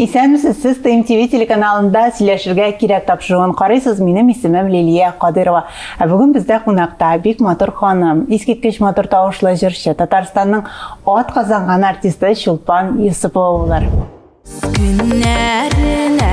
Исәнмесез, сез ТМТВ телеканалында сөйләшергә кирәк тапшыруын карыйсыз. Минем исемем Лилия Кадырова. Ә бүген бездә кунакта бик матур ханым, искиткеч матур тавышлы җырчы, Татарстанның ат казанган артисты Чулпан Юсупова булыр. Көннәренә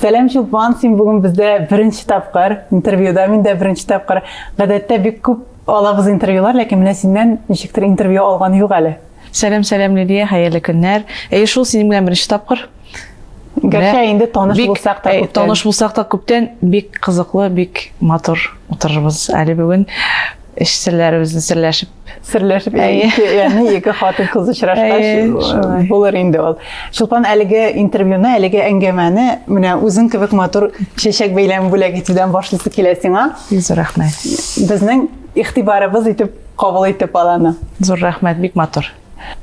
Сәлам Чулпан, син бүген бездә беренче тапкыр интервьюда, мин дә беренче тапкыр. Гадәттә бик күп алабыз интервьюлар, ләкин менә синнән ничектер интервью алган юк әле. Сәлам, сәлам Лилия, хәерле көннәр. Әйе, шул синең белән беренче тапкыр. Гәрчә инде таныш бик, булсак та э, күптән. Таныш булсак та күптән бик кызыклы, бик матур утырырбыз әле бүген. Эш серләребезне серләшеп серләшеп яны ике хатын кыз очрашкач булыр инде ул чулпан әлеге интервьюны әлеге әңгәмәне менә үзең кебек матур чәчәк бәйләме бүләк итүдән башлысы килә сиңа зур рәхмәт безнең игътибарыбыз итеп кабул итеп аланы зур рәхмәт бик матур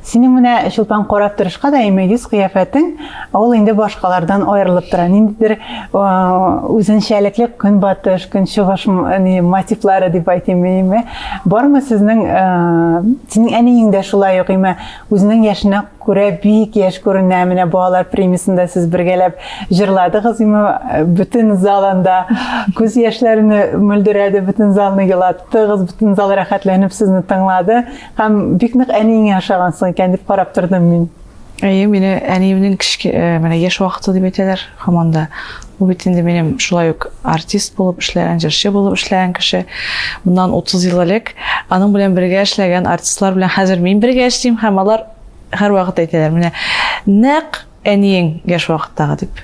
Синең менә чулпан карап торышка да әйме йөз-кыяфәтең, ул инде башкалардан аерылып тора. Ниндидер үзенчәлекле көнбатыш, көнчыгыш мотивлары дип әйтим әйме. Бармы сезнең синең әниең дә шулай ук әйме үзенең яшенә күрә бик яшь күренә. Менә балалар премиясендә сез бергәләп җырладыгыз әйме бөтен зал анда күз яшьләрне мөлдерәде, бөтен залны елаттыгыз, бөтен зал рәхәтләнеп сезне тыңлады. Һәм бик нык әниеңә ошагансың икән дип карап тордым мин. Әйе, мине әниемнең кечке, э, менә яшь вакыты дип әйтәләр һаман да. Ул бит инде минем шулай ук артист булып эшләгән, җырчы булып эшләгән кеше. Моннан 30 ел элек аның белән бергә эшләгән артистлар белән хәзер мин бергә эшлим һәм алар һәрвакыт әйтәләр, менә нәкъ әниең яшь вакыттагы дип.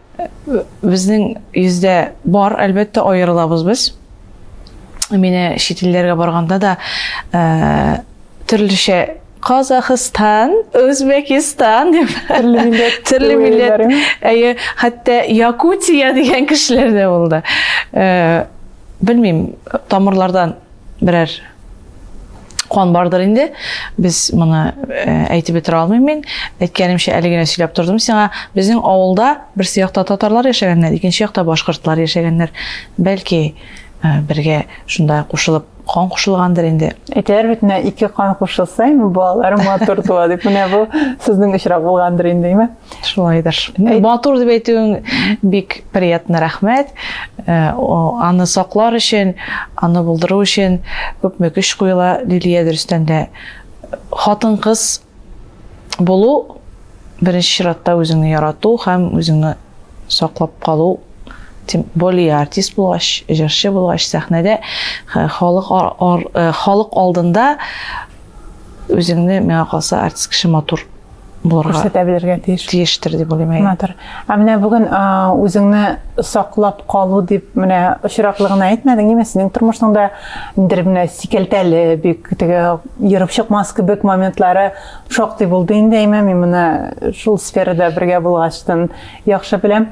Безнең йөздә бар, әлбәттә, аерылабыз без. Менә чит илләргә барганда да э, төрлечә Казахстан, Өзбекистан дип төрле милләт, төрле милләт. Әйе, хәтта Якутия дигән кешеләр дә булды. Э, белмим, тамырлардан берәр куан бардыр инде без моны әйтеп бетерә алмыйм мин әйткәнемчә әле генә сөйләп тордым сиңа безнең авылда берсе якта татарлар яшәгәннәр икенче якта башкортлар яшәгәннәр бәлки бергә шунда кушылып кан кушылгандыр инде әйтәләр бит менә ике кан кушылса инде балалары матур туа дип менә бу сезнең очрак булгандыр инде әйме Шулайдыр. Матур дип әйтүең бик приятно, рәхмәт. Э, аны саклар өчен, аны булдыру өчен күпме көч куела Лилия дөрестән дә. Хатын-кыз булу беренче чиратта үзеңне ярату һәм үзеңне саклап калу тем более артист булгач җырчы булгач сәхнәдә э, халык э, халык алдында үзеңне миңа калса артист кеше матур булырга күрсәтә белергә тиеш тиештер дип уйлыйм матур ә менә бүген үзеңне саклап калу дип менә очраклы гына әйтмәдең ниме синең тормышыңда ниндидер менә сикәлтәле бик теге ерып чыкмас кебек моментлары шактый булды инде әйме мин моны шул сферада бергә булгачтан яхшы беләм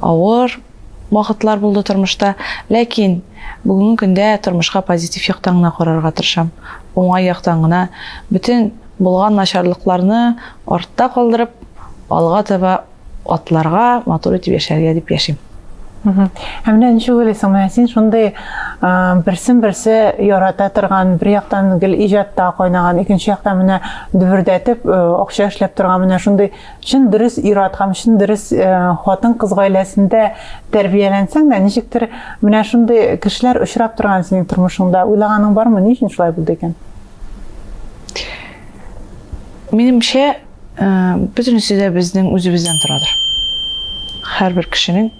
Авыр вакытлар булды тормышта, ләкин бүгенге көндә тормышка позитив яктан гына карарга тырышам. Уңай яктан гына, бөтен булган начарлыкларны артта калдырып, алга таба атларга, матур итеп яшәргә дип яшим. Ә менә ничек уйлыйсың, менә син шундый берсен-берсе ярата торган, бер яктан гел иҗатта кайнаган, икенче яктан менә дөбердәтеп акча эшләп торган менә шундый Чын дөрес ир-ат һәм чын дөрес хатын-кыз гаиләсендә тәрбияләнсәң дә, ничектер менә шундый кешеләр очрап торган синең тормышыңда. Уйлаганың бармы, ни өчен шулай булды икән? Минемчә, бөтенесе дә безнең үзебездән торадыр. Һәрбер кешенең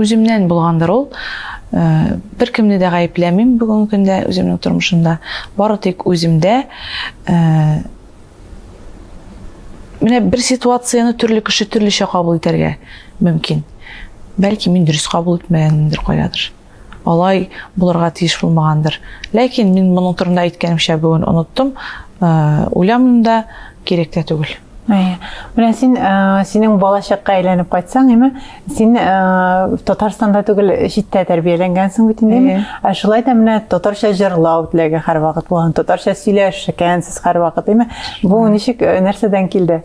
Үземнән булгандыр ул. Э, бер кемне дә гаепләмим бүгенге көндә үземнең тормышымда бары тик үземдә э, менә бер ситуацияне төрле кеше төрлечә кабул итәргә мөмкин бәлки мин дөрес кабул итмәгәнмендер кайдадыр Алай булырга тиеш булмагандыр. Ләкин мин моның турында әйткәнемчә бүген оныттым. Уйламыйм да, кирәк тә түгел. Әйе. Менә син, синең балачакка әйләнеп кайтсаң, әйме, син Татарстанда түгел, читтә тәрбияләнгәнсең бит инде. Ә шулай да менә татарча җырлау теләге һәрвакыт булган, татарча сөйләшкәнсез һәрвакыт, әйме. Бу ничек, нәрсәдән килде?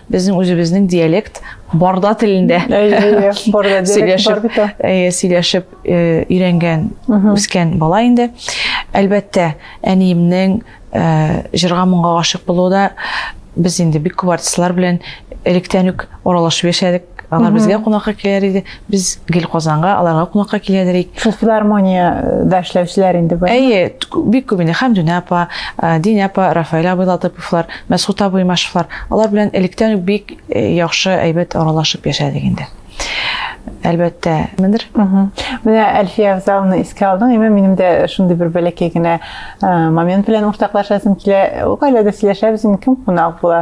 Безнең үзебезнең диалект барда телендә сөйләшеп өйрәнгән, үскән бала инде. Әлбәттә, әниемнең җырга моңга гашык булуы да без инде бик күп артистлар белән электән үк аралашып яшәдек. Алар безгә кунакка килер иде, Без гел Казанга, аларга кунакка киләдер ик. Филармониядә эшләүчеләр инде бу. Әйе, бик күп инде Хәмдүнә апа, э, Динә апа, Рафаэль абый Латыповлар, Мәсхут абый Машевлар. Алар белән электән үк бик э, яхшы әйбәт аралашып яшәдек инде. Әлбәттә, мендер. Менә Әлфия Авзаловна искә алдың, әмма минем дә шундый бер бәләкәй генә э, момент белән уртаклашасым килә. Гаиләдә сөйләшәбез, кем кунак була,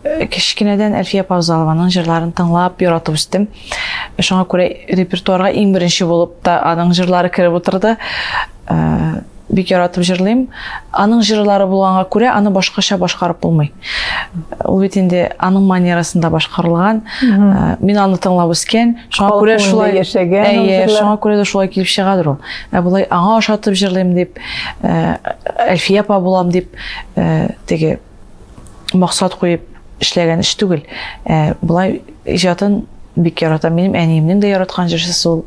Кечкенәдән Әлфия Повзалованың җырларын тыңлап, яратып үстем. Шуңа күрә репертуарга иң беренче булып та аның җырлары кереп утырды. Э, бик яратып җырлыйм. Аның җырлары булганга күрә аны башкача башкарып булмый. Ул бит инде аның манерасында башкарылган. Э, мин аны тыңлап үскән. Шуңа күрә шулай яшәгән. Әйе, шуңа күрә дә шулай килеп чыгадыр ул. Ә болай аңа ошатып җырлыйм дип, э, Әлфия апа булам дип, теге максат куеп эшләгән эш түгел. Ә, болай иҗатын бик яратам. Минем әниемнең дә яраткан җырчысы ул.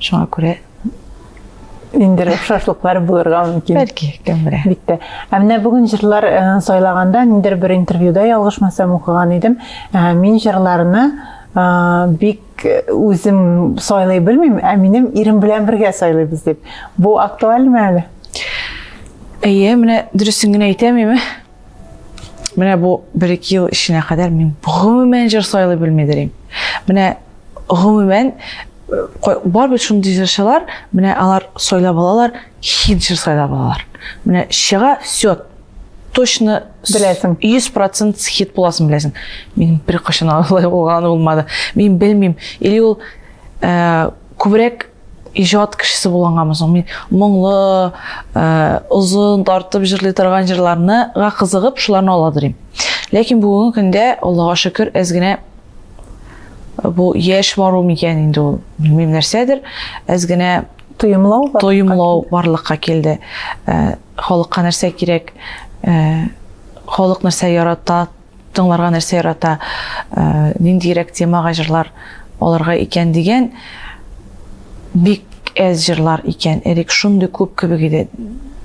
Шуңа күрә инде охшашлыклар булырга мөмкин. Бәлки, кем белә. Бик тә. Ә менә бүген җырлар э, сайлаганда ниндер бер интервьюда ялгышмасам укыган идем. Ә, мин җырларны э, бик Үзем сайлый белмим, ә минем ирем белән бергә сайлыйбыз дип. Бу актуальмы әле? Әйе, менә дөресен генә әйтәмме? Менә бу бер ике ел эченә кадәр мин гомумән җыр сайлый белмидер идем. Менә гомумән бар бит шундый җырчылар, менә алар сайлап алалар, хит җыр сайлап алалар. Менә чыга, все, точно Беләсең. 100% хит буласын беләсең. Мин бер кашын алай булган булмады. Мин белмим. Или ул э, күбрәк иҗат кешесе булганганмы соң мин моңлы э, озын тартып җырлый торган җырларны га кызыгып шуларны аладырым ләкин бүгенге көндә аллага шөкер әз генә э, бу яшь бару микән инде ул белмим нәрсәдер әз генә тоемлау тоемлау барлыкка килде э, Халыкка нәрсә кирәк, халык нәрсә ярата, тыңларга нәрсә ярата, ниндирәк темага җырлар алырга икән дигән бик әз җырлар икән. Элек шундый күп кебек иде.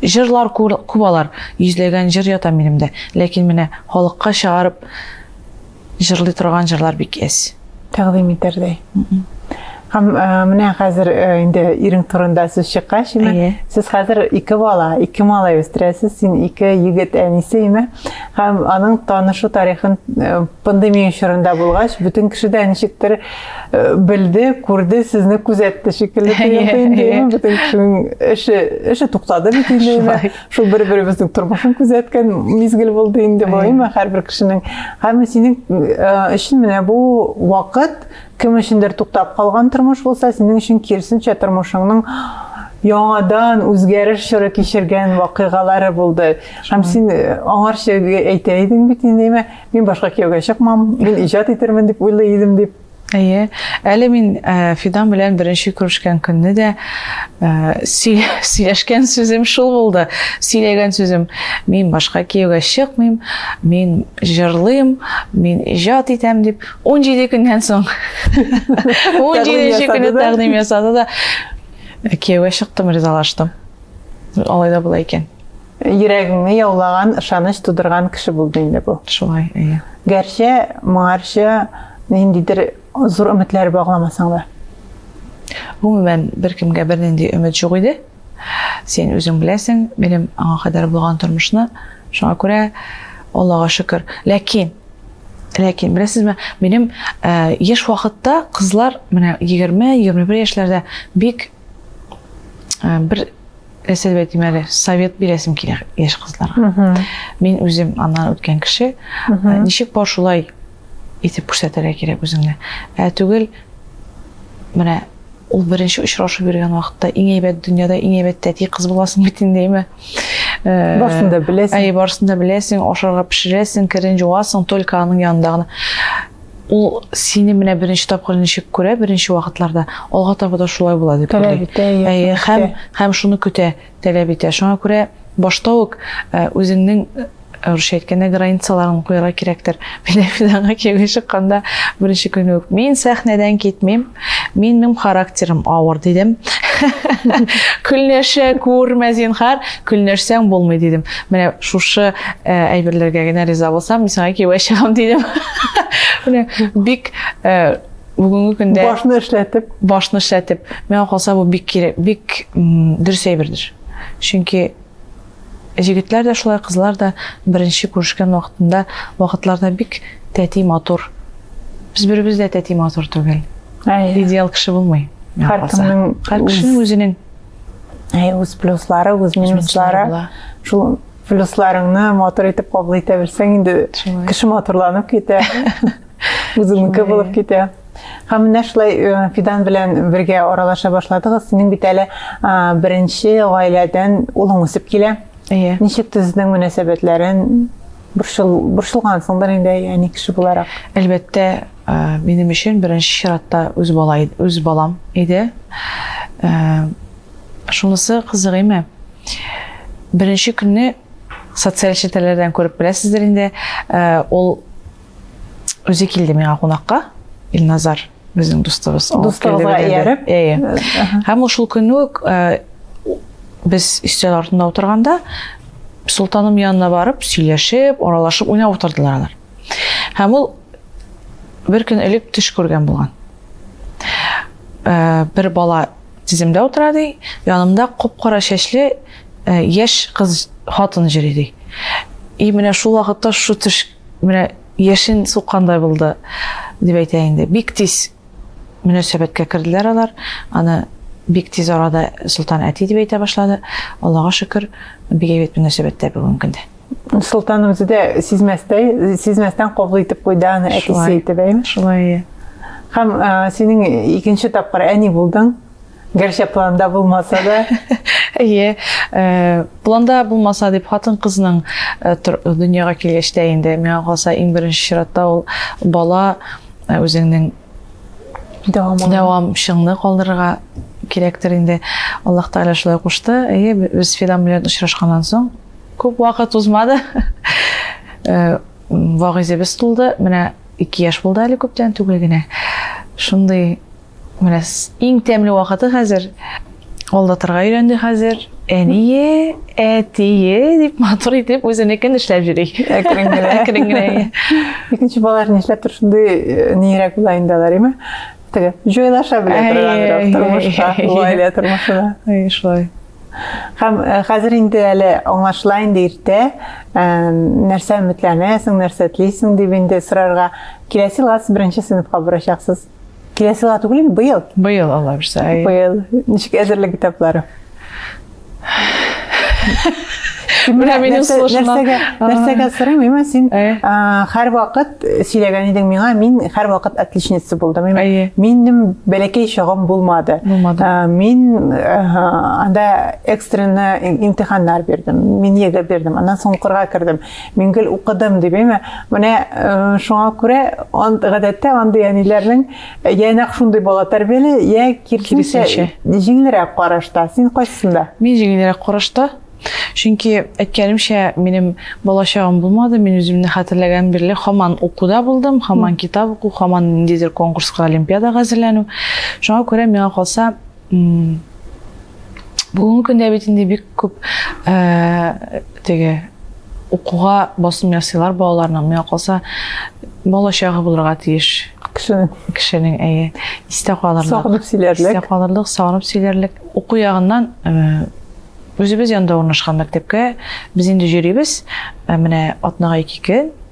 Җырлар күп алар, йөзләгән җыр ята минемдә. Ләкин менә халыкка чыгарып Җырлый торган җырлар бик әз. Тәкъдим итәрдәй. Һәм э, менә хәзер э, инде ирең турында сүз чыккач, име, Әйе. сез хәзер ике бала, ике малай үстерәсез, син ике егет әнисе, име? Һәм аның танышу тарихын э, пандемия чорында булгач, бөтен кеше дә ничектер белде, күрде, сезне күзәтте шикелле тоелды инде, име? Бөтен кешенең эше, эше туктады бит инде, име? шул бер беребезнең тормышын күзәткән мизгел булды инде балыйма һәрбер кешенең һәм синең өчен менә бу вакыт кем өчендер туктап калган тормыш булса синең өчен киресенчә тормышыңның яңадан үзгәреш чоры кичергән вакыйгалары булды һәм син э, аңарчы әйтә идең бит инде мин башка кияүгә чыкмам мин иҗат итермен дип уйлый идем дип Әйе, әле мин Фидан белән беренче күрешкән көнне дә сөйләшкән сүзем шул булды. Сөйләгән сүзем, мин башка кияүгә чыкмыйм, мин җырлыйм, мин иҗат итәм дип. 17 көннән соң 17 көнне тәкъдим ясады да кияүгә чыктым, ризалаштым. Алай да була икән. Йөрәгеңне яулаган, ышаныч тудырган кеше булды инде бу. Шулай, әйе. Гәрчә моңарчы ниндидер зур өметләр багламасаң да. Гомумән, беркемгә бернинди өмет юк иде. Син үзең беләсең, минем аңа кадәр булган тормышны. Шуңа күрә Аллага шөкер. Ләкин Ләкин, беләсезме, минем яшь вакытта кызлар, менә 20-21 яшьләрдә бик ә, бер нәрсә дип әйтим әле совет бирәсем килә яшь кызларга мин үзем аннан үткән кеше ә, ничек бар шулай итеп күрсәтергә кирәк үзеңне ә түгел менә ул беренче очрашып йөргән вакытта иң әйбәт дөньяда иң әйбәт тәти кыз буласың бит инде әйме ә, барысын да беләсең әй барысын да беләсең ашарга пешерәсең керен жуасың только аның янында гына Ул сине менә беренче тапкыр ничек күрә, беренче вакытларда, алга таба да шулай була дип уйлый. Таләп итә, әйе, һәм, һәм шуны көтә, таләп итә. Шуңа күрә башта ук э, үзеңнең русча әйткәндә границаларын куярга кирәктер. Менә мин аңа кияүгә чыкканда беренче көнне үк мин сәхнәдән китмим, Минем характерым авыр дидем. Көлнәшә күрмә зинхар, көлнәшсәң булмый дидем. Менә шушы э, әйберләргә генә риза булсам, мин сиңа кияүгә чыгам дидем. Менә бик э, бүгенге көндә башны эшләтеп, башны эшләтеп, миңа калса бу бик кирәк, бик дөрес әйбердер. Чөнки Җегетләр дә шулай, кызлар да беренче күрешкән вакытында вакытларда бик тәти матур. Без беребез дә тәти матур түгел. Идеал кеше булмый. Һәр кешенең үзенең Әй, үз плюслары, үз минуслары. Шул плюсларыңны матур итеп кабул итә белсәң, инде кеше матурланып китә. Үзеңнеке булып китә. Һәм менә шулай э, Фидан белән бергә аралаша башладыгыз. Синең бит әле беренче гаиләдән улың үсеп килә. Әйе. Ничек төзедең мөнәсәбәтләрен? Борчыл, борчылгансыңдыр инде, яни кеше буларак. Әлбәттә, э, минем өчен беренче чиратта үз бала үз балам иде. Э, шунысы кызык име? Беренче көнне социаль челтәрләрдән күреп беләсездер инде, ул Үзе килде миңа кунакка, Илназар, безнең дустыбыз. Дустыбызга ияреп. Әйе. Һәм ул шул көн үк э, без өстәл артында утырганда Султаным янына барып, сөйләшеп, аралашып, уйнап утырдылар алар. Һәм ул бер көн элек төш күргән булган. Э, бер бала тиземдә утыра ди, янымда кап-кара чәчле э, яшь кыз хатын җири ди. И менә шул вакытта шу төш Менә яшен суккандай булды, дип әйтә инде. Бик тиз мөнәсәбәткә керделәр алар. Аны бик тиз арада Солтан әти дип әйтә башлады. Аллага шөкер, бик әйбәт мөнәсәбәттә бүгенге көндә. Солтан үзе дә сизмәстәй, сизмәстән кабул итеп куйды аны әтисе итеп, әйме? Шулай. Һәм синең икенче тапкыр әни булдың. Гәрчә планда булмаса да. Әйе, э, планда булмаса дип хатын-кызның э, дөньяга килгәч тә инде миңа калса иң беренче чиратта ул бала э, үзеңнең дәвамчыңны калдырырга кирәктер инде. Аллаһ Тәгалә шулай кушты. Әйе, без Фидан белән очрашканнан соң күп вакыт узмады. Вагызыбыз тулды. Менә 2 яшь булды әле күптән түгел генә. Шундый Менә иң тәмле вакыты хәзер. Алдатырга өйрәнде хәзер. Әние, әтие дип матур итеп үзенекен эшләп йөри. Әкрен генә. Әкрен генә. Икенче балалар нишләптер шундый э, нирәк була инде алар, име? Теге җайлаша белә торганрак тормышка, гаилә тормышына. Шулай. Һәм э, хәзер инде әле аңлашыла инде иртә, э, нәрсә өметләнәсең, нәрсә телисең дип инде сорарга. Киләсе елга сез беренче сыйныфка барачаксыз. Киләсе елга түгел, быел. Быел Алла бирсә. Быел. Ничек әзерлек этаплары? Менә минем сулышымнан. Нәрсәгә сорыйм, син һәр вакыт сөйләгән идең миңа, мин һәр вакыт отличница булдым. Минем бәләкәй чагым булмады. Мин анда экстренный имтиханнар бирдем. Мин егы бирдем. Аннан соң укырга кердем. Мин гел укыдым дип, әйме? Менә э, шуңа күрә гадәттә андый әниләрнең э, я нәкъ шундый бала тәрбияли, я киресенчә җиңелрәк карашта. Син кайсында? Мин җиңелрәк карашта. Чөнки әйткәнемчә, минем балачагым булмады. Мин үземне хәтерләгән бирле хаман укуда булдым, хаман китап уку, хаман ниндидер конкурска, олимпиадага әзерләнү. Шуңа күрә миңа калса, Бүгенге көндә бит инде бик күп теге укуга басым ясыйлар балаларның. Миңа калса, бала чагы булырга тиеш. Кешенең. Кешенең, әйе. Истә калырлык. Сагынып сөйләрлек. Истә калырлык, сагынып сөйләрлек. Уку ягыннан үзебез янда урнашкан мәктәпкә без инде йөрибез. Менә атнага ике көн.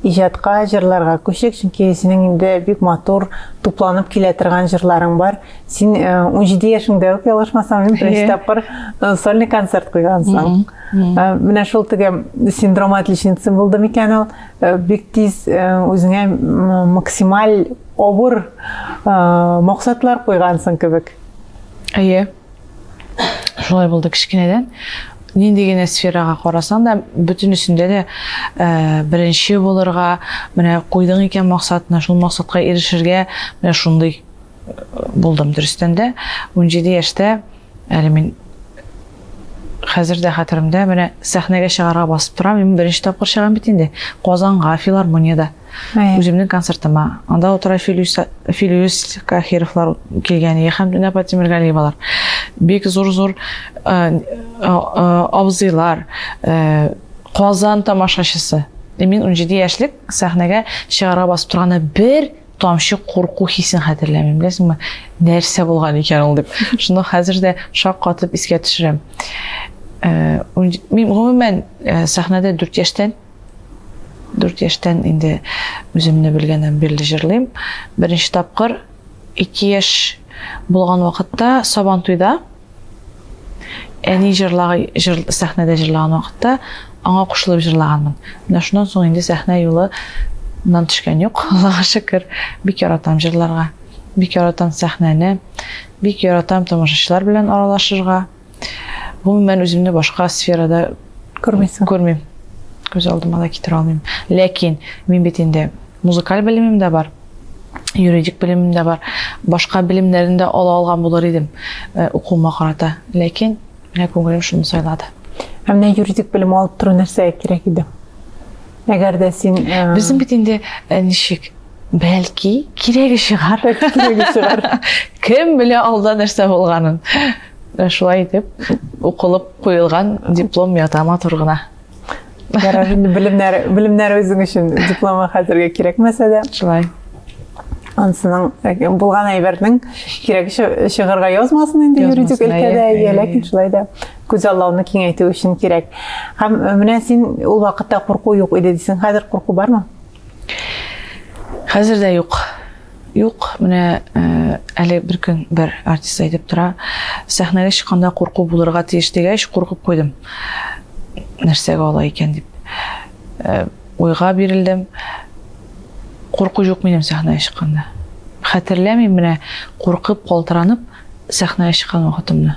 Иҗатка, җырларга күчик, чөнки синең инде бик матур, тупланып килә торган җырларың бар. Син 17 э, яшеңдә үк ялгышмасам, мин беренче тапкыр э, сольный концерт куйгансың. Э, менә шул теге синдром отличницы булды микән ул? Бик тиз үзеңә максималь авыр максатлар куйгансың кебек. Әйе. шулай булды кечкенәдән нинди генә сферага карасаң да бөтенесендә дә ә, беренче булырга менә куйдың икән максатны шул максатка ирешергә менә шундый булдым дөрестән дә унҗиде яшьтә әле мин хәзер дә хәтеремдә менә сәхнәгә чыгарга басып торам мин беренче тапкыр чыгам бит инде казанга филармониядә Үземнең концертыма. Анда утыра Филюс Кахировлар килгән иде һәм Динапа Тимергалиевалар. Бик зур-зур абзыйлар, Казан тамашачысы. Мин 17 яшьлек сәхнәгә чыгарга басып торганда бер тамчы курку хисен хәтерләмим. Беләсеңме, нәрсә булган икән ул дип. Шуны хәзер дә шаккатып искә төшерәм. Мин гомумән сәхнәдә 4 яшьтән Дүрт яшьтән инде үземне белгәннән бирле җырлыйм. Беренче тапкыр ике яшь булган вакытта Сабантуйда әни җырлагы җыр, сәхнәдә җырлаган вакытта аңа кушылып җырлаганмын. Менә шуннан соң инде сәхнә юлы нан төшкән юк, Аллага шөкер. Бик яратам җырларга, бик яратам сәхнәне, бик яратам тамашачылар белән аралашырга. гомумән үземне башка сферада күрмисең күрмим күз алдыма да китерә алмыйм ләкин мин бит инде музыкаль белемем дә бар юридик белемем дә бар башка белемнәрен дә ала алган булыр идем э, укуыма карата ләкин менә күңелем шуны сайлады ә менә юридик белем алып тору нәрсәгә кирәк иде әгәр дә син э, безнең бит инде э, ничек бәлки кирәге чыгар кирәге чыгар кем белә алда нәрсә булганын Менә шулай итеп, укылып куелган диплом ята матур гына. Ярар, инде белемнәр, белемнәр үзең өчен дипломы хәзергә кирәкмәсә дә. Шулай. Ансының э, булган әйбернең кирәк чыгарга язмасын инде юридик өлкәдә, иә, ләкин шулай да күз аллауны киңәйтү өчен кирәк. Һәм э, менә син ул вакытта курку юк иде дисең, хәзер курку бармы? Хәзер дә юк. Юк, менә э, әле бер көн бер артист әйтеп тора, сәхнәгә чыкканда курку булырга тиеш дигәч, куркып куйдым. Нәрсәгә ала икән дип. Э, уйга бирелдем. Курку юк минем сәхнәгә чыкканда. Хәтерләмим менә куркып, калтыранып сәхнәгә чыккан вакытымны.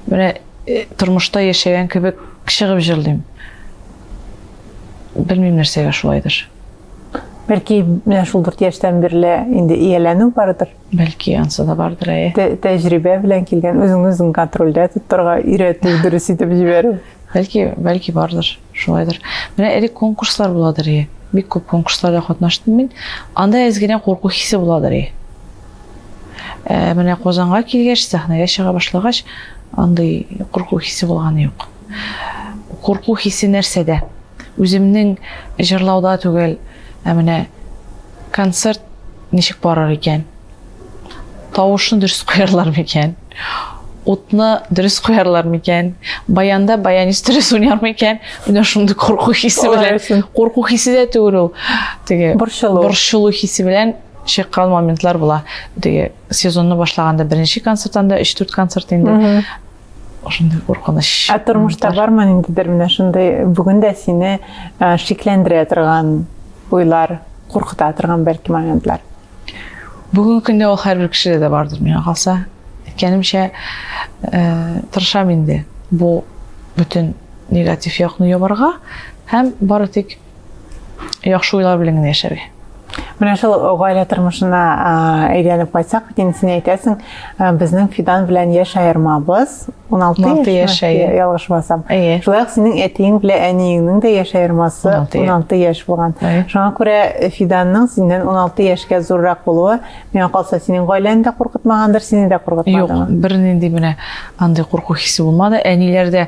Менә э, тормышта яшәгән кебек чыгып җырлыйм. Белмим нәрсәгә шулайдыр. Бәлки менә шул дүрт яшьтән бирле инде ияләнү бардыр. Бәлки ансы да бардыр, әйе. Тә тәҗрибә белән килгән, үзеңне үзең контрольдә тоттырга өйрәтү, дөрес итеп җибәрү. Бәлки, бәлки бардыр, шулайдыр. Менә элек конкурслар буладыр, әйе. Бик күп конкурсларда катнаштым мин. Анда әз генә курку хисе буладыр, әйе. Ә менә Казанга килгәч, сәхнәгә чыга башлагач, андый курку хисе булганы юк. Курку хисе нәрсәдә? Үземнең җырлауда түгел, ә менә концерт ничек барыр икән? Тавышны дөрес куярлар микән? Утны дөрес куярлар микән? Баянда баянист дөрес уйнар микән? Менә шундый курку хисе белән. Курку хисе дә түгел ул. Теге борчылу. Борчылу хисе белән чыккан моментлар була. Теге сезонны башлаганда беренче концерттан да 3-4 концерт инде. ошондый куркыныч ә тормышта бармы ниндидер менә шундай бүген дә сине шикләндерә торган уйлар куркыта торган бәлки моментлар бүгенге көндә ул һәрбер кешедә дә бардыр миңа калса әйткәнемчә тырышам инде бу бөтен негатив якны ябарга һәм бары тик яхшы уйлар белән генә яшәргә менә шул гаилә тормышына әйләнеп кайтсак бит инде син әйтәсең безнең фидан белән яшь аермабыз он алты яшь ялгышмасам шулай ук синең әтиең белән әниеңнең дә яшь аермасы он алты яшь булган шуңа күрә фиданның синнән он алты яшькә зуррак булуы миңа калса синең гаиләңне дә куркытмагандыр сине дә куркытмады юк бернинди менә андый курку хисе булмады әниләр дә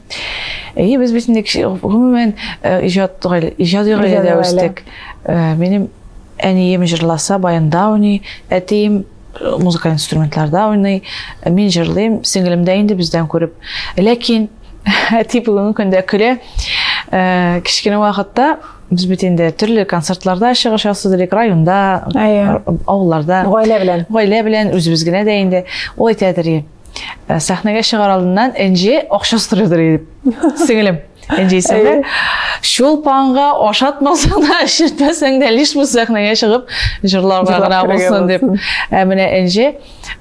Әйе, без бит инде гомумән иҗат гаилә, иҗади гаиләдә үстек. Минем әнием җырласа, баянда уйный, әтием музыкаль инструментларда уйный, мин җырлыйм, сеңлем дә инде бездән күреп. Ләкин әти бүгенге көндә көлә. Кечкенә вакытта без бит инде төрле концертларда чыгыш ясады элек районда авылларда гаилә белән гаилә белән үзебез генә дә инде ул әйтә Ә, сәхнәгә чыгар алдыннан Энҗе акча сорыйдыр дип. Сеңелем. Энҗе исемле. Чулпанга ашатмасаң да, эшертмәсәң дә, лишь бу сәхнәгә чыгып җырларга гына булсын дип. Ә менә Энҗе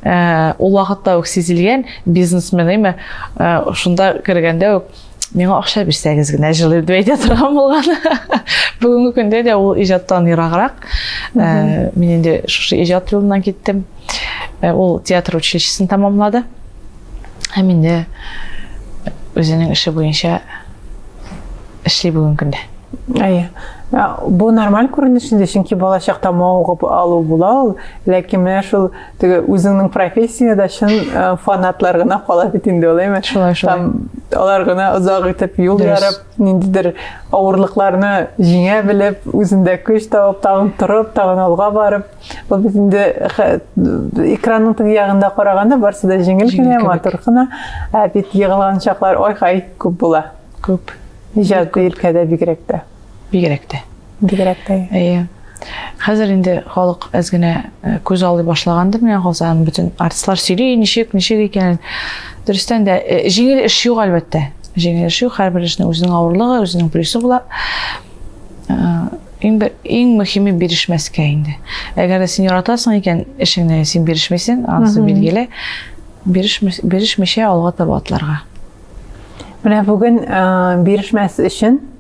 ә, ул вакытта ук сизелгән бизнесмен име? Ә, шунда кергәндә үк миңа акча бирсәгез генә җылыйм дип әйтә торган булган бүгенге көндә дә ул иҗаттан ераграк э, мин инде шушы иҗат юлыннан киттем э, ул театр училищесын тәмамлады һәм инде үзенең эше буенча эшли бүгенге көндә әйе бу нормаль күренеш инде чөнки балачакта мавыгып алу була ул ләкин менә шул теге үзеңнең профессияда чын э, фанатлар гына кала бит инде ул әйме шулай шулай алар гына озак итеп юл ярып ниндидер авырлыкларны җиңә белеп үзендә көч табып тагын торып тагын алга барып ул бит инде экранның теге ягында караганда барысы да җиңел генә матур гына ә бит егылган чаклар ой хай күп була күп иҗади илкәдә бигрәк тә бигрәк тә бигрәк тә. Әйе. Хәзер инде халык әз генә э, күз алый башлагандыр, миңа калса, бөтен артистлар сөйли, ничек, ничек икәнен. Дөрестән дә, э, җиңел эш юк, әлбәттә. Җиңел эш юк, һәрбер эшнең үзенең авырлыгы, үзенең плюсы була. Э, иң бер иң мөһиме бирешмәскә инде. Әгәр дә син яратасың икән эшеңне, син бирешмисең, анысы билгеле. Бирешмичә алга таба атларга. Менә бүген бирешмәс өчен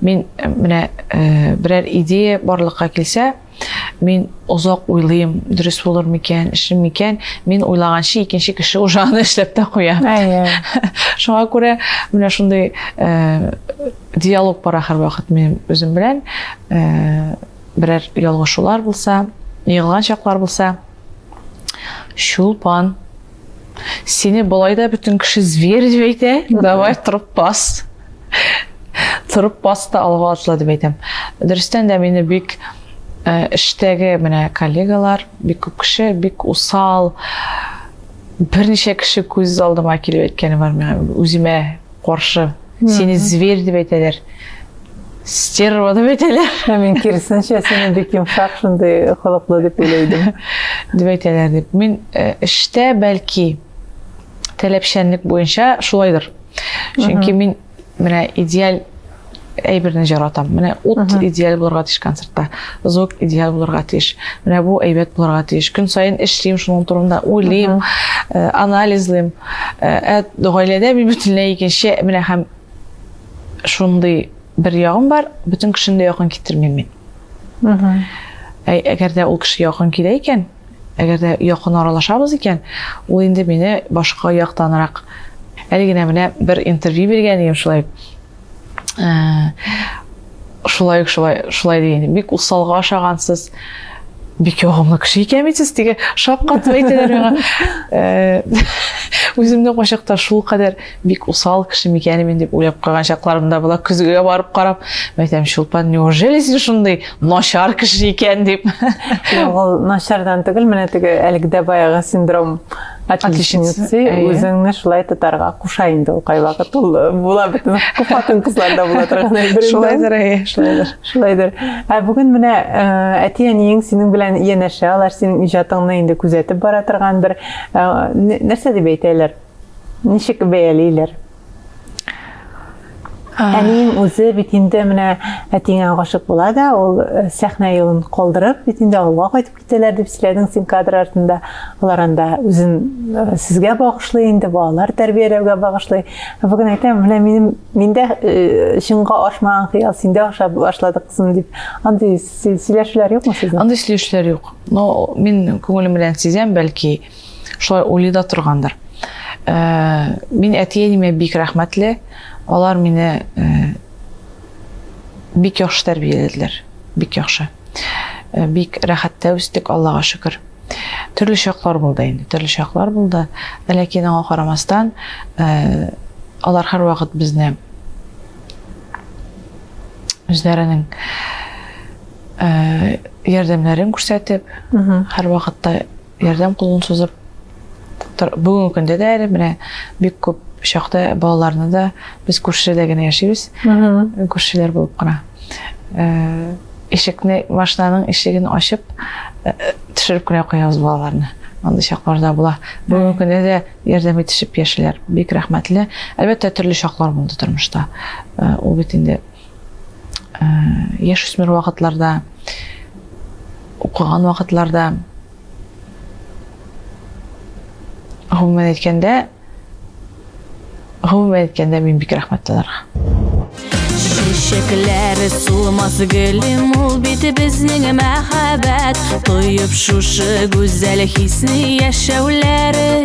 Мин менә берәр идея барлыкка килсә, мин озак уйлыйм, дөрес булыр микән, эшем микән, мин уйлаганчы икенче кеше уже аны эшләп тә куя. Шуңа күрә менә шундый диалог бара һәрвакыт минем үзем белән. Берәр ялгышулар булса, егылган чаклар булса, чулпан Сине болай да бөтен кеше зверь дип әйтә. Давай торып бас. Торып бас та алга атла дип әйтәм. Дөрестән дә мине бик э, эштәге менә коллегалар, бик күп кеше бик усал, берничә кеше күз алдыма килеп әйткәне бар миңа үземә каршы. Сине зверь дип әйтәләр. Стерва дип әйтәләр. Ә мин киресенчә сине бик йомшак, шундый холыклы дип уйлыйдым. дип әйтәләр дип. Мин э, эштә бәлки таләпчәнлек буенча шулайдыр. Чөнки мин менә идеаль әйберне жаратам. Менә ут идеаль булырга тиеш концертта, звук идеаль булырга тиеш. Менә бу әйбәт булырга тиеш. Көн саен эшлим, шуның турында уйлыйм, э, анализлыйм. Ә э, гаиләдә мин бөтенләй икенче, менә һәм шундый бер ягым бар, бөтен кешене дә якын китермим мин. Әгәр дә ул кеше якын килә икән, Әгәр дә якын аралашабыз икән, ул инде мине башка яктанрак әле генә менә бер интервью биргән идем шулай э, шулай ук шулай шулай дигән бик усалга ашагансыз бик ягымлы кеше икән бит сез теге шапкатып әйтәләр миңа э, үземне кайчакта шул кадәр бик усал кеше микәни мин дип уйлап куйган чакларым да була көзгегә барып карап мен әйтәм чулпан неужели син шундый начар кеше икән дип ул начардан түгел менә теге әлеге дә баягы синдром отличницы үзеңне шулай тотарга куша инде ул кайвакыт ул э, була бөтен хатын кызларда була торган әйбер шулайдыр шулайдыр шулайдыр ә бүгін менә э, әти әниең синең белән янәшә алар синең иҗатыңны инде күзәтеп бара торган бер э, нәрсә дип әйтәләр Ничек бәялиләр? Әнием үзе бит инде менә әтиңә гашык була да, ул э, сәхнә юлын калдырып, бит инде авылга кайтып китәләр дип сөйләдең син кадр артында. Алар анда үзен э, сезгә багышлый инде, балалар тәрбияләүгә багышлый. Бүген әйтәм, менә минем миндә э, чынга ашмаган хыял синдә аша башлады кызым дип. Андый сөйләшүләр юкмы сезнең? Андый сөйләшүләр юк. Но мин күңелем белән сизәм, бәлки шулай уйлый да торгандыр ә, мин әти әниемә бик рәхмәтле алар мине ә, бик яхшы тәрбияләделәр бик яхшы ә, бик рәхәттә үстек аллага шөкер төрле чаклар булды инде төрле чаклар булды ләкин аңа карамастан ә, алар һәрвакыт безне үзләренең ә, ярдәмнәрен күрсәтеп һәрвакытта Ярдәм кулын сузып, бүгенге көндә дә әле менә бик күп чакта балаларны да без күршедә генә яшибез. Күршеләр булып кына. Э, ишекне, машинаның ишеген ачып, э, төшереп кенә куябыз балаларны. Андый чаклар да була. Бүгенге көндә дә ярдәм итешеп яшиләр. Бик рәхмәтле. Әлбәттә, төрле чаклар булды тормышта. Э, ул бит инде Ә, яшь үсмер вакытларда, укыган вакытларда, гомумән әйткәндә, гомумән әйткәндә мин бик рәхмәтле аларга. Чәчәкләр сулмас гөлем ул бит безнең мәхәббәт Тоеп шушы гүзәл хисне яшәүләре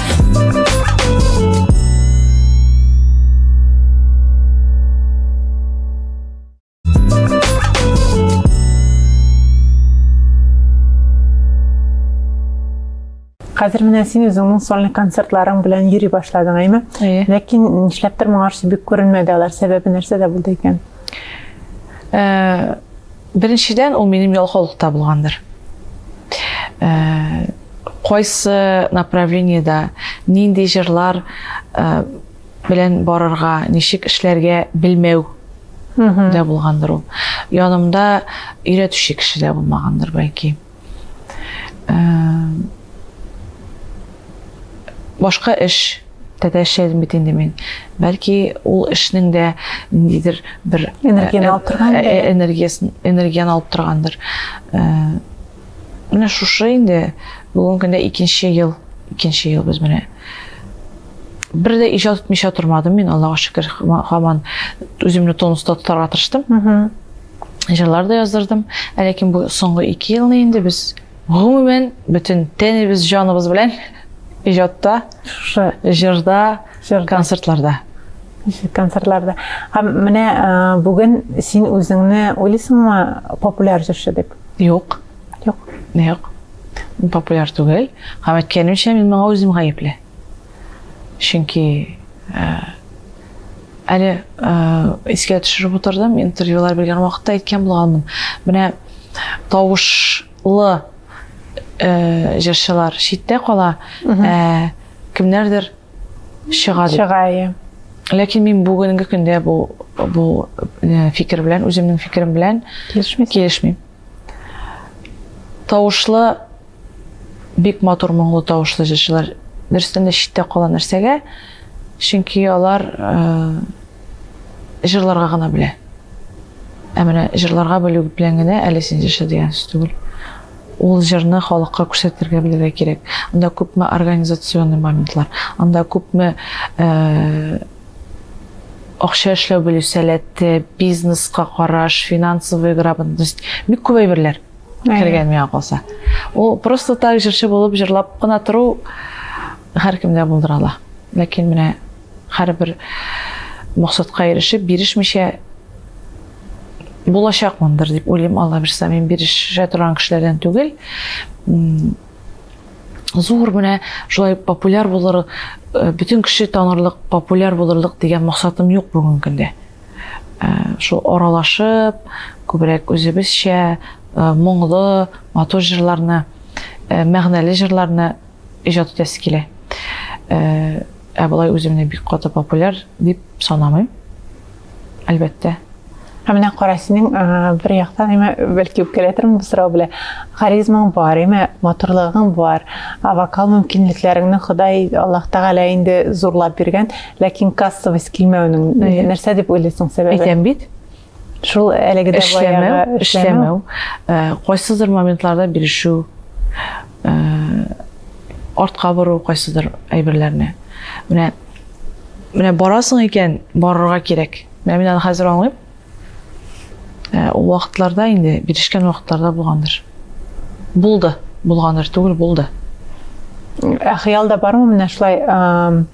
Хәзер менә син үзеңнең сольный концертларың белән йөри башладың, әйме? Әйе. Ләкин нишләптер моңарчы бик күренмәде алар. Сәбәбе нәрсәдә булды икән? Э, Беренчедән, ул минем ялкаулыкта булгандыр. Э, кайсы направлениедә нинди җырлар э, белән барырга, ничек эшләргә белмәү дә булгандыр ул. Янымда өйрәтүче кеше дә булмагандыр, бәлки. башка эш тәтә эшләдем бит инде мин бәлки ул эшнең дә ниндидер бер энергияны алып торган энергиясын энергияны алып торгандыр менә шушы инде бүгенге көндә икенче ел икенче ел без менә бер дә иҗат итмичә тормадым мин аллага шөкер һаман үземне тонуста тотарга тырыштым җырлар да яздырдым. Ә ләкин бу соңгы ике елны инде без гомумән бөтен тәнебез, җаныбыз белән иҗатта, шушы җырда, концертларда. Концертларда. Һәм менә бүген син үзеңне уйлыйсыңмы популяр җырчы дип? Юк. Юк. Юк. Популяр түгел. Һәм әйткәнемчә, мин моңа үзем гаепле. Чөнки Әле искә төшереп утырдым, интервьюлар биргән вакытта әйткән булганмын. Менә тавышлы э, җырчылар читтә кала, э, кемнәрдер чыга дип. Чыга, иә. Ләкин мин бүгенге көндә бу бу э, фикер белән, үземнең фикерем белән килешмим. Килешмим. Тавышлы Бик матур моңлы тавышлы җырчылар дөрестән дә читтә кала нәрсәгә? Чөнки алар җырларга гына белә. Ә менә җырларга белү белән генә әле син җырчы дигән сүз түгел. Ул җырны халыкка күрсәтергә белергә кирәк. Анда күпме организационный моментлар, анда күпме э, акча эшләү белү сәләте, бизнеска караш, финансовый грамотность, бик күп әйберләр. кергән миңа калса ул просто так җырчы булып җырлап кына тору һәркемдә булдыра ала ләкин менә һәрбер максатка ирешеп бирешмичә булачакмындыр дип уйлыйм алла бирса мин бирешә торган кешеләрдән түгел зур менә шулай популяр булыр э, бөтен кеше танырлык популяр булырлык дигән максатым юк бүгенге көндә Ә, шул аралашып, күбрәк үзебезчә ә, моңлы, матур җырларны, ә, мәгънәле җырларны иҗат итәсе килә. Ә, ә болай үземне бик каты популяр дип санамыйм. Әлбәттә. Ә менә кара синең бер яктан әмма бәлки үпкәләтермен бу сорау белән. Харизмаң бар, әмма матурлыгың бар, ә вокал мөмкинлекләреңне Ходай Аллаһ Тәгалә инде зурлап биргән. Ләкин кассовость килмәүнең нәрсә дип уйлыйсың сәбәбе? Әйтәм бит. Шул әлеге дә эшләмәү, эшләмәү. Кайсыдыр моментларда бирешү, артка бору кайсыдыр әйберләрне. Менә менә барасың икән, барырга кирәк. Менә мин аны хәзер аңлыйм. Ә, ул вакытларда инде, бирешкән вакытларда булгандыр. Булды, булгандыр түгел, булды. Ә хыялда бармы менә шулай ә,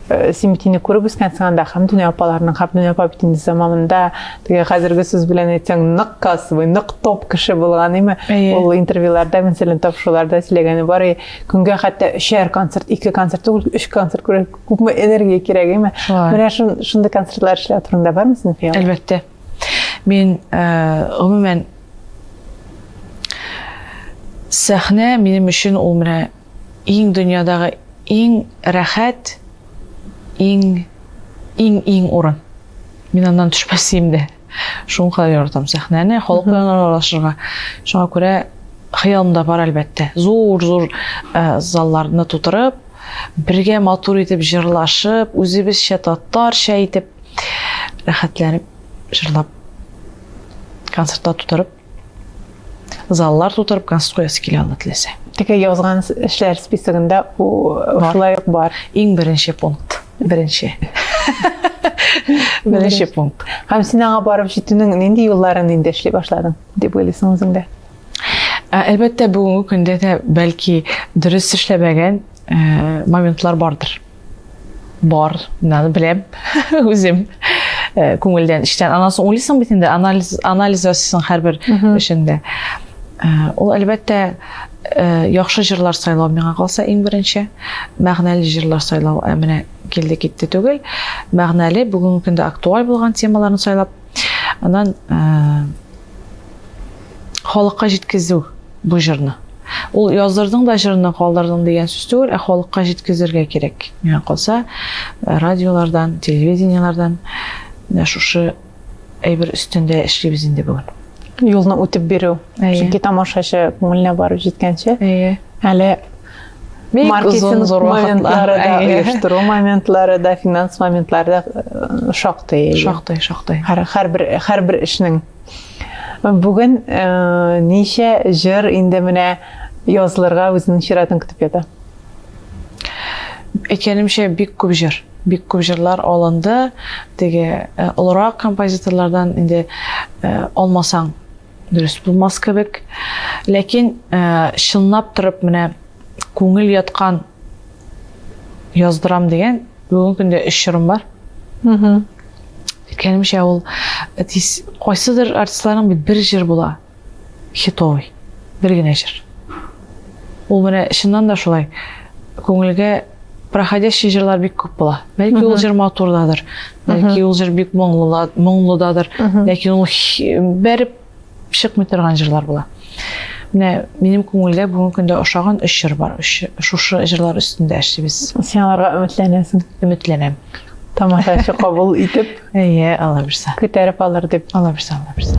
э, син бит инде күреп үскәнсең анда Хәмдүнә апаларның, Хәмдүнә апа бит инде заманында теге хәзерге сүз белән әйтсәң нык касвый, нык топ кеше булган, име? Әйе. Ул интервьюларда, мәсәлән, тапшыруларда сөйләгәне бар, и, көнгә хәтта өчәр концерт, ике концерт түгел, өч концерт күрә- күпме энергия кирәк әйме менә шундый концертлар эшләү турында бармы синең хыял әлбәттә мин гомумән сәхнә минем өчен ул менә иң дөньядагы иң рәхәт иң иң иң урын мин аннан төшмәсем дә Шуңа яратам сәхнәне, халык белән аралашырга. Шуңа күрә хыялым да бар, әлбәттә. Зур-зур э, залларны тутырып, бергә матур итеп җырлашып, үзебезчә татарча итеп рәхәтләнеп җырлап концертта тутырып заллар тутырып концерт куясы килә ала теләсә теге язган эшләр списогында шулай ук бар иң беренче пункт беренче беренче пункт һәм син аңа барып җитүнең нинди юлларын инде эшли башладың дип уйлыйсың үзеңдә ә, әлбәттә бүгенге көндә дә бәлки дөрес эшләмәгән ә, моментлар бардыр Бар, наны беләм, үзем э, күңелдән, эчтән. Анан соң уйлыйсың бит инде, анализ, анализ ясыйсың һәрбер эшендә. Э, ул әлбәттә э, яхшы җырлар сайлау миңа калса иң беренче, мәгънәле җырлар сайлау ә менә килде китте түгел. Мәгънәле бүгенге көндә актуаль булган темаларны сайлап, анан халыкка җиткезү бу җырны. Ул яздырдың да җырны калдырдың дигән сүз түгел, ә халыкка җиткезергә кирәк. Миңа калса, э, радиолардан, телевидениелардан менә шушы әйбер өстендә эшлибез инде бүген. Юлны үтеп бирү. Чөнки тамашачы күңеленә барып җиткәнче, әле маркетинг моментлары да, оештыру моментлары да, финанс моментлары да э, шактый. Шактый, шактый. Һәр һәр бер һәр бер эшнең Бүген э, ничә җыр инде менә язларга үзенең чиратын көтеп ята? Әйткәнемчә, бик күп җыр. Бик күп җырлар алынды. Теге э, олырак композиторлардан инде э, алмасаң дөрес булмас кебек. Ләкин чынлап торып менә күңел яткан яздырам дигән бүгенге көндә өч җырым бар. Әйткәнемчә, ул әтис, кайсыдыр артистларның бит бер җыр була, хитовый, бер генә җыр. Ул менә чыннан да шулай, күңелгә проходящий җырлар бик күп була. Бәлки ул җыр матурдадыр, бәлки ул җыр бик моңлыдадыр, ләкин ул бәреп Чыкмый торган җырлар була. Менә минем күңелдә бүгенге көндә ошаган өч җыр бар. Өч шушы җырлар өстендә эшлибез. Син аларга өметләнәсең. Өметләнәм. Тамашачы кабул итеп. Әйе, алла бирсә. Күтәреп алыр дип. Алла бирсә, алла бирсә.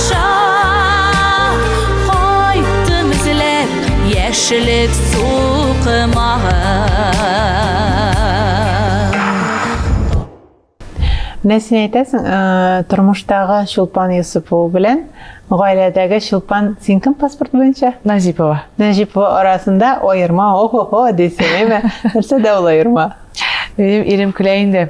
Кайттым эзләп яшелек Менә син әйтәсең, э, тормыштагы Чулпан Юсупова белән гаиләдәге Чулпан, син кем паспорт буенча? Нәҗипова. Нәҗипова арасында аерма, охо-хо дисең, әйме? Нәрсә дә ул аерма? Минем ирем көлә инде.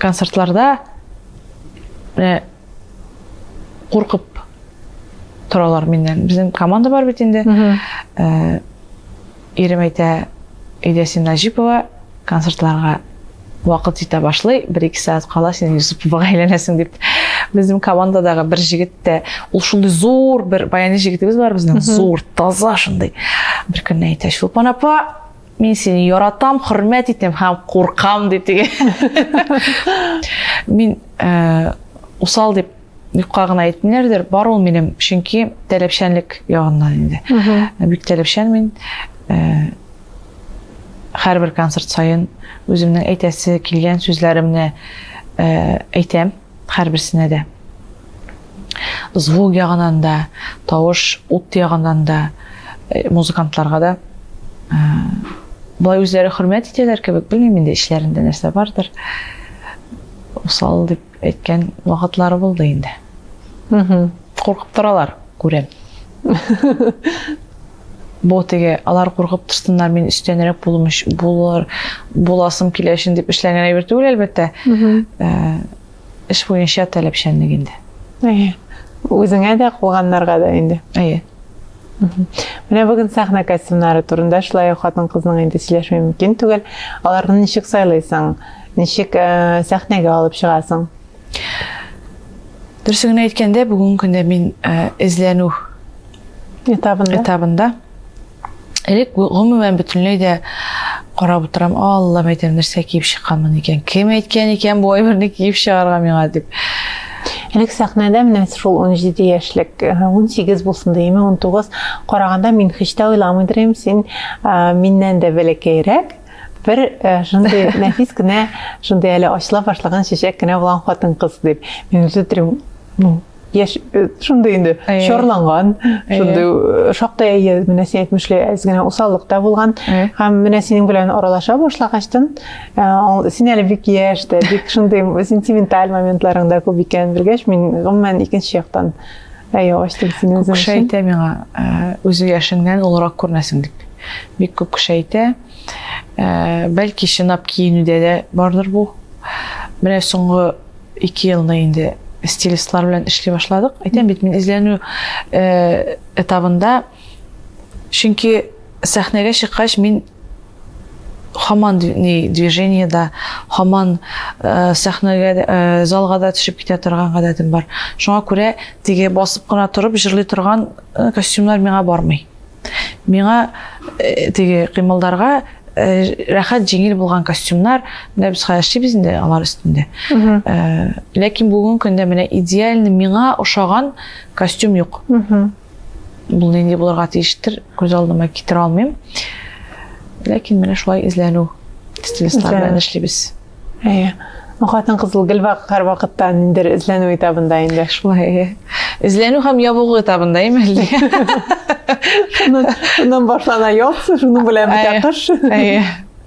концертларда менә куркып торалар миннән безнең команда бар бит инде э, ирем әйтә өйдә син наҗипова концертларга вакыт җитә башлый бер ике сәгать кала син юсуповага әйләнәсең дип безнең командадагы бер җегет тә ул шундый зур бер баяни җегетебез бар безнең зур таза шундый бер көнне әйтә чулпан апа Мин сине яратам, хөрмәт итәм һәм куркам, ди теге. Мин э, усал дип юкка гына әйтмиләрдер бар ул минем чөнки таләпчәнлек ягыннан инде ә бик таләпчән мин э, һәрбер концерт саен үземнең әйтәсе килгән сүзләремне э, әйтәм Һәрберсенә дә звук ягынан да, тавыш, ут ягынан да, э, музыкантларга да э, болай үзләре хөрмәт итәләр кебек, белмим инде эчләрендә нәрсә бардыр. Усал дип әйткән вакытлары булды инде. Куркып торалар, күрәм. Бу теге, алар куркып торсыннар, мин өстәнрәк булым булыр, буласым килә өчен дип эшләнгән әйбер түгел, әлбәттә. Э, эш буенча таләпчәнлек инде. Әйе. Үзеңә дә, куганнарга да инде. Әйе. Менә бүген сәхнә костюмнары турында шулай ук хатын-кызның инде сөйләшми мөмкин түгел. Аларны ничек сайлыйсың? Ничек э, сәхнәгә алып чыгасың? Дөресен генә әйткәндә, бүгенге көндә мин эзләнү этабында. Этабында. Элек гомумән бөтенләй дә карап утырам, Алла мәйтәм нәрсә киеп чыкканмын икән. Кем әйткән икән бу әйберне киеп чыгарга миңа дип. Элек сәхнәдә менә шул 17 яшьлек, 18 булсын димме, 19 караганда мин һич тә уйламыйдыр идем, син миннән дә бәләкәйрәк. бер э, шундый нәфис кенә шундый әле ачыла башлаган чәчәк кенә булган хатын кыз дип мин үзе төрим ну яшь э, шундый инде чорланган шундый э, шактый әйе менә син әйтмешле әз генә усаллыкта булган һәм менә синең белән аралаша башлагачтын син әле бик яшь тә бик шундый сентименталь моментларың да күп икәнен белгәч мин гомумән икенче яктан Ә яваш тел син үзең өчен? әйтә миңа, үзе яшеңнән олырак күренәсең дип. Бик күп кеше әйтә. Бәлки чынлап киенүдә дә бардыр бу. Менә соңгы ике елны инде стилистлар белән эшли башладык. Әйтәм бит, мин эзләнү этабында, чөнки сәхнәгә чыккач мин Хаман ни движение да, хаман э, сәхнәгә э, залга да төшеп китә торган гадәтем бар. Шуңа күрә теге басып кына торып җырлый торган э, костюмнар миңа бармый. Миңа э, теге кыймылдарга э, рәхәт җиңел булган костюмнар, менә без хәзер эшлибез инде алар өстендә. Э, ләкин бүген көндә менә идеально миңа ошаган костюм юк. Бу нинди булырга тиештер, күз алдыма китерә алмыйм. Ләкин менә шулай эзләнү стилистлар белән эшлибез. Әйе. Хатын кызыл гел һәр вакытта ниндер эзләнү этабында инде. Шулай, әйе. Эзләнү һәм ябыгу этабында име әллә? Шуннан башлана яз, шуның белән бетә кыш. Әйе.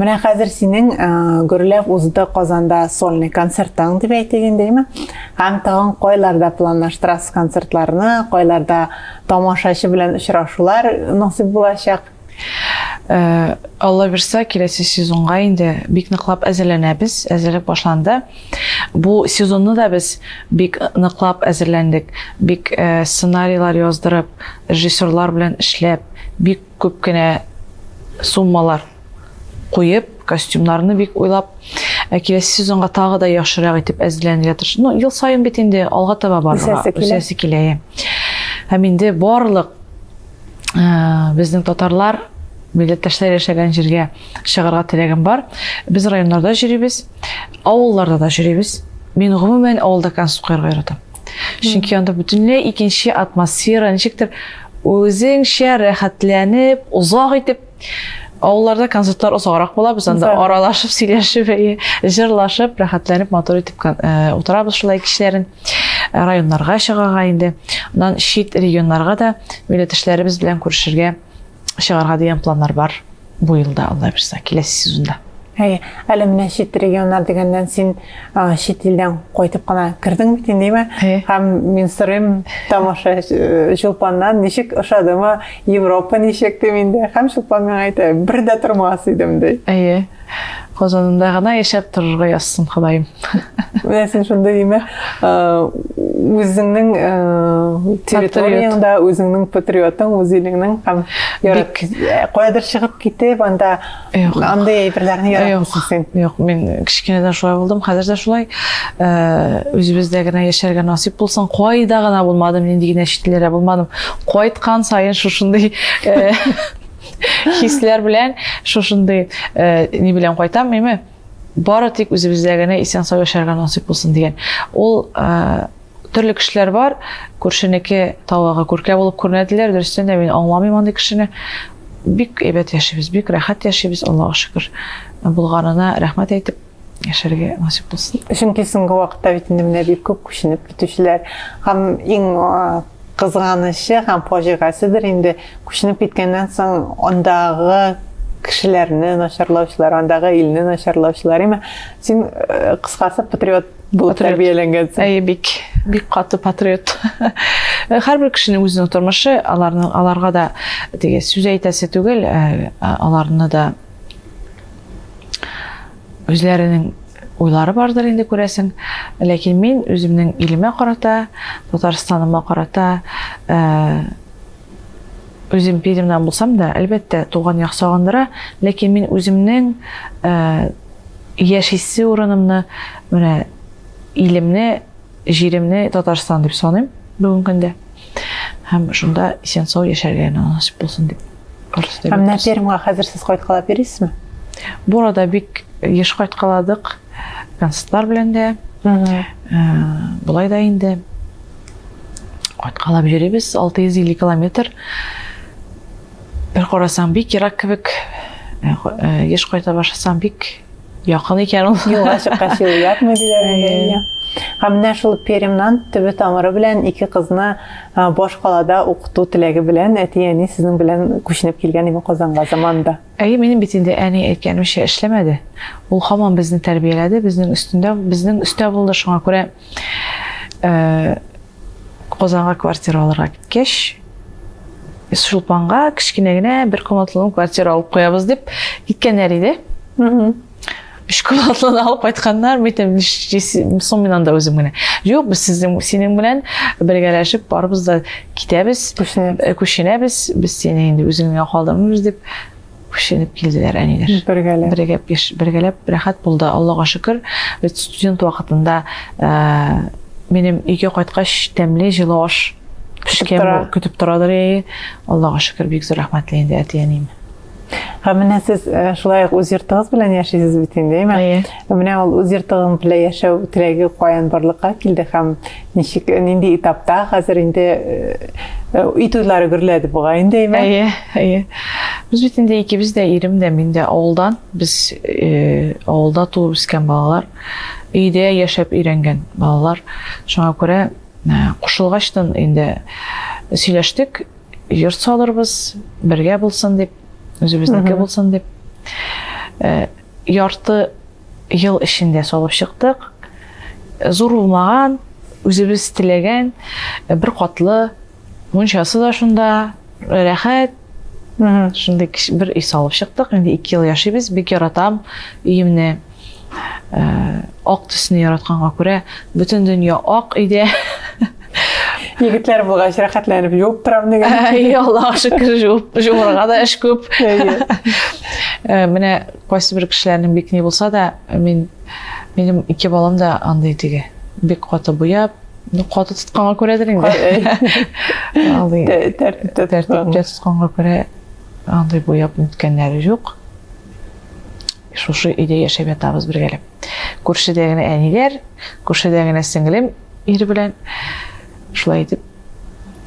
Менә хәзер синең гөрләп узды Казанда сольный концертың дип әйтик инде, әйме? Һәм тагын кайларда планлаштырасыз концертларны, кайларда тамашачы белән очрашулар насыйп булачак? Э, алла бирса киләсе сезонга инде бик ныклап әзерләнәбез әзерлек башланды бу сезонны да без бик ныклап әзерләндек бик э, сценарийлар яздырып режиссерлар белән эшләп бик Күп кенә суммалар куеп, костюмнарны бик уйлап, ә киләсе сезонга тагы да яхшырак итеп әзерләнергә тырыш. Ну, ел саен бит инде алга таба барырга үсәсе килә. Һәм инде барлык э, безнең татарлар милләттәшләр яшәгән җиргә чыгарга теләгем бар. Без районнарда йөрибез, авылларда да йөрибез. Мин гомумән авылда концерт куярга яратам. чөнки анда бөтенләй икенче атмосфера ничектер үзеңчә рәхәтләнеп озак итеп авылларда концертлар озаграк була без анда аралашып сөйләшеп җырлашып рәхәтләнеп матур итеп э, утырабыз шулай кичләрен э, районнарга чыгарга инде аннан чит регионнарга да милләттәшләребез белән күрешергә чыгарга дигән планнар бар бу елда алла бирса киләсе сезонда Әй, әле менә чит регионнар дигәннән син а, чит илдән кайтып кына кердең бит инде, әйме? Һәм мин сорыйм тамаша э, Чулпаннан, ничек ошадымы, Европа ничек дип инде. Һәм Чулпан миңа әйтә, бер дә тормас идем ди. Әйе. Казанында гына яшәп торырга язсын Ходаем. Менә син шунда имә үзеңнең территорияңдә үзеңнең патриотың, үз илеңнең һәм ярат каядыр чыгып китеп, анда андый әйберләрне яратмыйсың син. Юк, мин кечкенәдән шулай булдым, хәзер дә шулай. Үзебездә генә яшәргә насыйп булсын. Кайда гына булмадым, нинди генә читләрдә булмадым. Кайткан саен шушындый Хисләр белән шушындый э, ни белән кайтам, әйме? Бары тик үзебездә генә исән сау яшәргә насыйп булсын дигән. Ул э, төрле кешеләр бар, күршенеке тавыгы күркә булып күренәделәр, дөрестән дә мин аңламыйм андый кешене. Бик әйбәт яшибез, бик рәхәт яшибез, Аллаһка шөкер. Булганына рәхмәт әйтеп, яшәргә насип булсын чөнки соңгы вакытта бит инде менә бик күп күченеп китүчеләр һәм иң кызганычы һәм фаҗигаседер инде күченеп киткәннән соң андагы кешеләрне начарлаучылар андагы илне начарлаучылар имә син э, кыскасы патриот булып тәрбияләнгәнсең әйе бик бик каты патриот һәрбер кешенең үзенең тормышы аларның аларга да теге сүз әйтәсе түгел э, аларны да Үзләренең уйлары бардыр инде күрәсең ләкин мин үземнең илемә карата татарстаныма карата э, үзем пермьдан булсам да әлбәттә туган як сагындыра ләкин мин үземнең э, яшисе урынымны менә илемне җиремне татарстан дип саныйм бүгенге көндә һәм шунда исән сау яшәргә насыйп булсын дип Дөрес дип. Ә менә Пермьгә хәзер сез кайткалап йөрисезме? Бу арада бик еш кайткаладык. Концертлар белән дә. Э, болай да инде кайткалап йөрибез 650 километр. Бер карасаң бик ерак кебек. Э, э, еш кайта башласаң бик Якын икән ул. Юлга чыккач юл ятмый диләр инде. Һәм менә шул Перемнан төбе тамыры белән ике кызны башкалада укыту теләге белән әти-әни сезнең белән күченеп килгән иде Казанга заманда. Әйе, минем бит инде әни әйткәнемчә эшләмәде. Ул һаман безне тәрбияләде, безнең өстендә, безнең өстә булды. Шуңа күрә Э, Казанга квартира алырга киткәч, Чулпанга кечкенә генә бер комнатлы квартира алып куябыз дип киткәннәр иде. Өч комнатлы алып кайтканнар, митем, соң мин анда үзем генә. Юк, без сезнең синең белән бергәләшеп барыбыз да китәбез, күченәбез, э, без сине инде үзеңә калдырмыйбыз дип күченеп килделәр әниләр. Бергәләп. Бергәләп, яш, бергәләп рәхәт булды, Аллага шөкер. Без студент вакытында ә, минем өйгә кайткач тәмле җылы аш пешкән көтеп торадыр яе. Аллага шөкер, бик зур рәхмәтле инде әти-әнием. Һәм менә сез э, шулай ук үз йортыгыз белән яшисез бит инде, әйме? Әйе. Менә ул үз йортыгың белән яшәү теләге каян барлыкка килде һәм Ничек, нинди этапта хәзер инде өй туйлары гөрләде буга инде әйме? Әйе, әйе. Без бит инде икебез дә ирем дә мин дә авылдан. Без э, авылда туып үскән балалар. Өйдә яшәп өйрәнгән балалар. Шуңа күрә э, кушылгачтан инде сөйләштек, йорт салырбыз, бергә булсын дип, үзебезнеке булсын дип. Э, Ярты ел эчендә салып чыктык. Зур булмаган, үзебез теләгән бер катлы мунчасы да шунда рәхәт. Шундый бер өй салып чыктык. Инде 2 ел яшибез. Бик яратам өемне. Ак төсне яратканга күрә, бөтен дөнья ак өйдә. Егетләр булгач рәхәтләнеп юып торам дигән. Әй, Аллаһ шөкер, җуып җуырга да эш күп. Э, менә кайсы бер кешеләрнең бик ни булса да, мин минем ике балам да андый диге. Бик каты буяп, ну каты тотканга күрәдер инде. Андый тәртиптә тәртиптә тотканга күрә андый буяп үткәннәре юк. Шушы өйдә яшәп ятабыз бергәләп. Күршедә генә әниләр, күршедә генә сеңлем ир белән. Шулай итеп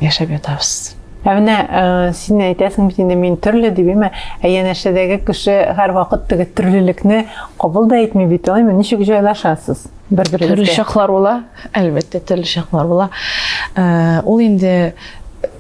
яшәп ятабыз. Ә менә э, син әйтәсең бит инде мин төрле дип, әмма ә янәшәдәге кеше һәрвакыт теге төрлелекне кабул да итми бит, алаймы? Ничек җайлашасыз? Бер бер төрле чаклар була, әлбәттә, төрле чаклар була. Э, ул инде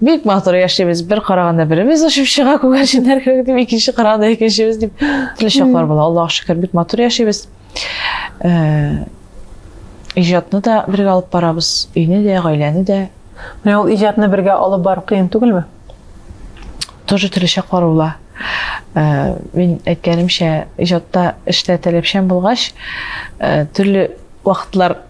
Бик матур яшибез. Бер караганда беребез очып чыга күгәрченнәр кебек дип, икенче караганда икенчебез дип. Төрле чаклар була. Аллаһ шөкер, бик матур яшибез. Э, иҗатны да бергә алып барабыз, өйне дә, гаиләне дә. Менә ул иҗатны бергә алып бару кыен түгелме? Тоже төрле чаклар була. Э, мин әйткәнемчә, иҗатта эштә таләпчән булгач, э, төрле вакытлар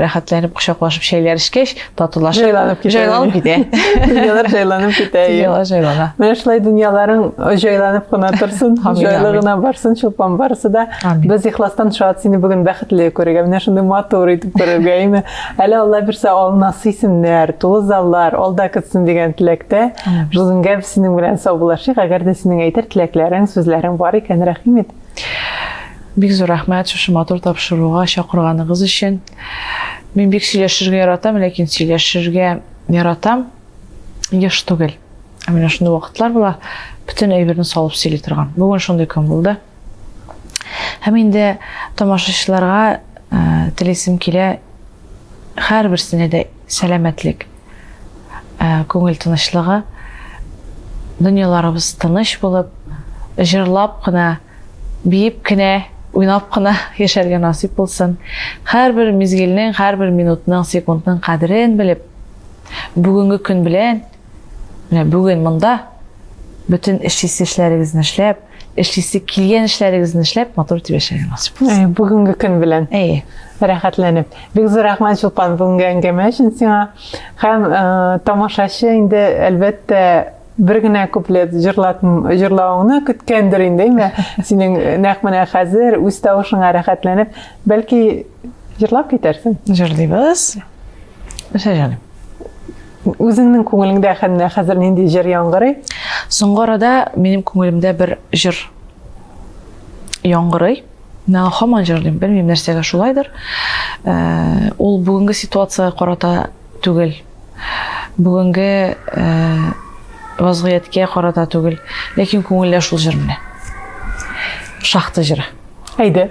рәхәтләнеп кочаклашып чәйләр эчкәч татулашып җайланып китә җайланып китә дөньялар җайланып китә дөньялар җайлана менә шулай дөньяларың җайланып кына торсын җайлы гына барсын чулпан барысы да без ихластан шат сине бүген бәхетле күрергә менә шундый матур итеп күрергә әйме әле алла бирсә алынасы исемнәр тулы заллар алда көтсен дигән теләктә жузенгә синең белән саубуллашыйк әгәр дә синең әйтер теләкләрең сүзләрең бар икән рәхим ит Бик зур рәхмәт шушы матур тапшыруга чакырганыгыз өчен. Мин бик сөйләшергә яратам, ләкин сөйләшергә яратам еш түгел. Ә менә шундый вакытлар була, бөтен әйберне салып сөйли торган. Бүген шундый көн булды. Һәм инде тамашачыларга э, телисем килә һәрберсенә дә сәламәтлек, ә, күңел тынычлыгы, дөньяларыбыз тыныч булып, җырлап кына, биеп кенә, уйнап кына яшәргә насыйп булсын. Һәрбер мизгелнең, һәрбер минутның, секундның кадерен белеп, бүгенге көн белән, менә бүген монда бөтен эшлисе эшләрегезне эшләп, Эшлисе килгән эшләрегезне эшләп, матур итеп яшәргә насыйп булсын. Әй, бүгенге көн белән. Әйе. Рәхәтләнеп. Бик зур рәхмәт Чулпан бүгенге әңгәмә өчен сиңа. Һәм э, тамашачы инде әлбәттә бер генә куплет җырлат җырлавыңны көткәндер инде, әйме? Синең нәкъ менә хәзер үз тавышыңа рәхәтләнеп, бәлки җырлап китәрсең. Җырлыйбыз. Мисәҗән. Үзеңнең күңелеңдә хәннә хәзер нинди җыр яңгырый? Соңгы арада минем күңелемдә бер җыр яңгырый. Мин аңа һаман җырлыйм, белмим нәрсәгә шулайдыр. Ә, ул бүгенге ситуацияга карата түгел. Бүгенге ә, вазгыятькә карата түгел, ләкин күңелдә шул җыр менә. Шахта җыры. Әйдә.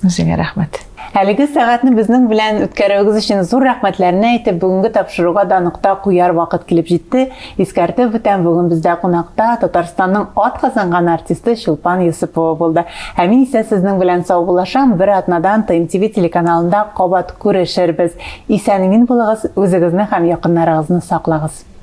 Үзеңә рәхмәт. Әлеге сәгатьне безнең белән үткәрүегез өчен зур рәхмәтләрне әйтеп, бүгенге тапшыруга да нокта куяр вакыт килеп җитте. Искәртеп үтәм, бүген бездә кунакта Татарстанның ат казанган артисты Чулпан Йосыпова булды. Ә мин исә сезнең белән саубуллашам. Бер атнадан ТМТВ телеканалында кабат күрешербез. Исән-имин булыгыз, үзегезне һәм якыннарыгызны саклагыз.